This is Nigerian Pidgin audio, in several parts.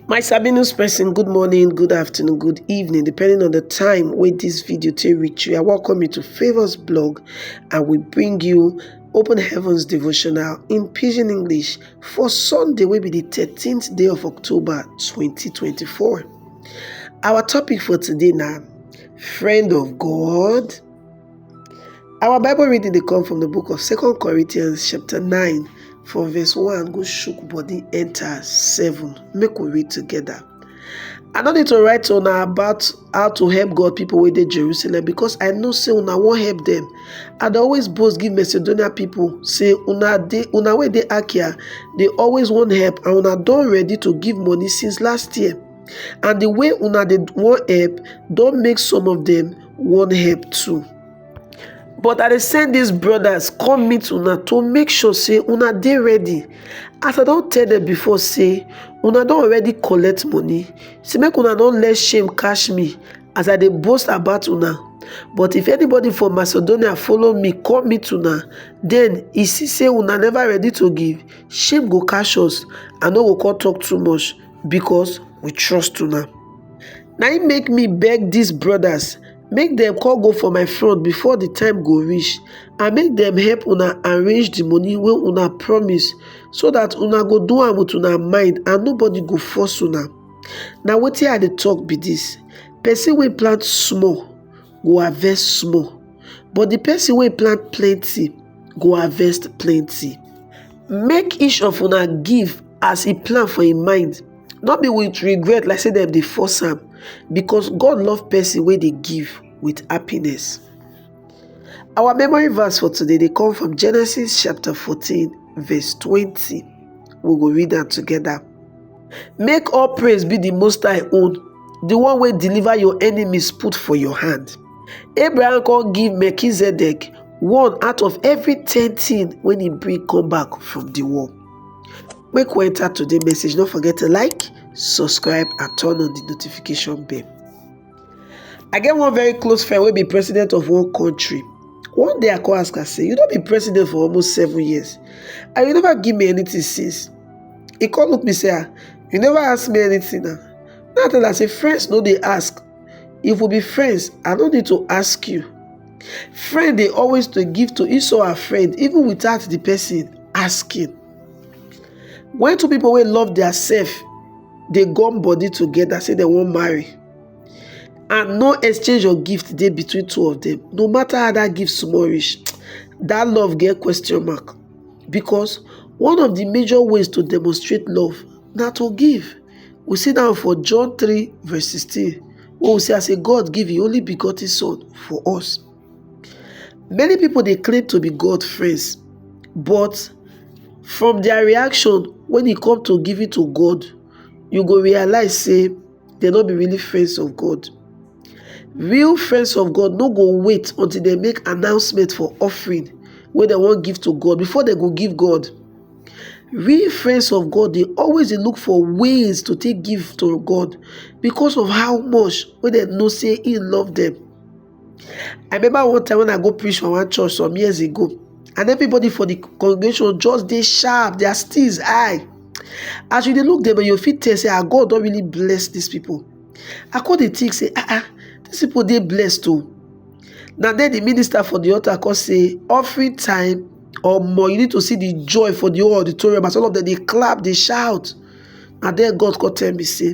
my sabi news person good morning good afternoon good evening depending on the time when this video to reach you i welcome you to favors blog and we bring you open heavens devotional in pidgin english for sunday will be the 13th day of october 2024 our topic for today now friend of god Our Bible reading dey come from the book of Second Corinthians chapter 9 from verse 1 go shook body enter 7. Make we read together. I no need to write to una about how to help God people wey dey Jerusalem because I know say una wan help them. I dey always boast give Macedonia people say una dey una wey dey Achaia dey always wan help and una don ready to give money since last year. and the way una dey wan help don make some of them wan help too but i dey send these brothers come meet una to make sure say una dey ready as i don tell them before say una don already collect money say make una no let shame catch me as i dey boast about una but if anybody from macedonia follow me come meet una then e see say una never ready to give shame go catch us i no go come talk too much because we trust una na im make me beg dis brothers make dem come go for my front before the time go reach and make dem help una arrange the money wey una promise so that una go do am with una mind and nobody go force una na wetin i dey talk be this person wey plant small go harvest small but the person wey plant plenty go harvest plenty make each of una give as e plan for im mind no be with regret like say dem dey force am because God love person wey dey give with happiness. Our memory verse for today dey come from Genesis chapter 14 verse 20. We go read am together. Make all praise be the Most High own, the one wey deliver your enemies put for your hand. Abraham come give Melchizedek one out of every ten thing when he bring come back from the war. Make we enter today message. Don't forget to like, subscribe, and turn on the notification bell. I get one very close friend wey be president of one country. One day I come ask am say, you don be president for almost seven years and you never give me anything since. He come look me say, ah, you never ask me anything now. Now I tell am say, friends no dey ask. If we be friends, I no need to ask you. Friend dey always to give to each other friend even without the person asking. When two people wey love their self dey gum body together say dem wan marry and no exchange of gift dey between two of them no matter how that gift small reach that love get question mark because one of the major ways to demonstrate love na to give we see that for john 3 verse 16 wey we see as say god give him only begotten son for us Many pipo dey claim to be God friends but from dia reaction wen e come to giving to God you go realise sey dem no be really friends of God. Real friends of God no go wait until dem make announcement for offering wey dem wan give to God before dem go give God. Real friends of God dey always dey look for ways to take give to God because of how much wey dem know sey im love dem. I remember one time when I go preach for one church some years ago, and everybody for the congregation just dey sharp, their steeze high. As you dey look them, you fit tell say ah, God don really bless these people. I come dey think say ah ah, these people dey blessed too. Na then the minister for the altar come say offering time omo you need to see the joy for the whole auditorium as all of them dey clap dey shout na then god come tell me say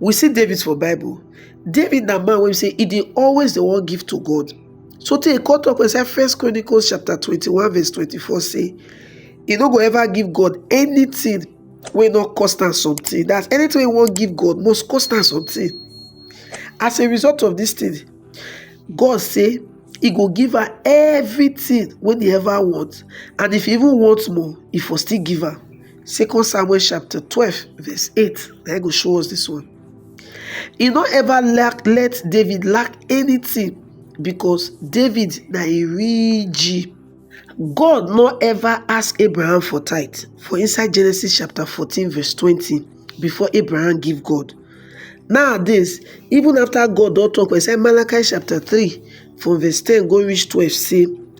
We see David for Bible. David na man wey be say e dey always dey wan give to God. So tey e come talk inside First Chronicles chapter 21 verse 24 say e no go ever give God anything wey no cost am something. That's anything wey e wan give God must cost am something. As a result of this thing, God say e go give her everything wey e ever want and if e even want more, e for still give am. Second Samuel chapter 12, verse 8. They go show us this one. He not ever lack, let David lack anything because David na a real G. God not ever ask Abraham for tithe. For inside Genesis chapter 14, verse 20, before Abraham give God. Nowadays, even after God don't talk, we say Malachi chapter 3, from verse 10 go reach 12, say,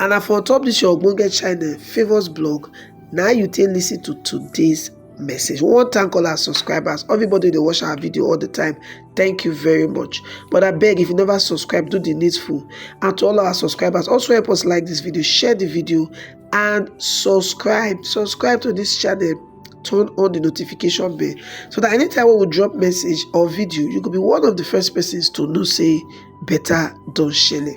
and na for top this your ogbonge channel favours blog na you take listen to today's message we wan thank all our subscribers everybody dey watch our video all the time thank you very much but i beg if you never subscribe do the needful and to all our subscribers also help us like this video share the video and subscribe subscribe to this channel turn on the notification bell so that anytime we drop message or video you could be one of the first persons to know say better don shele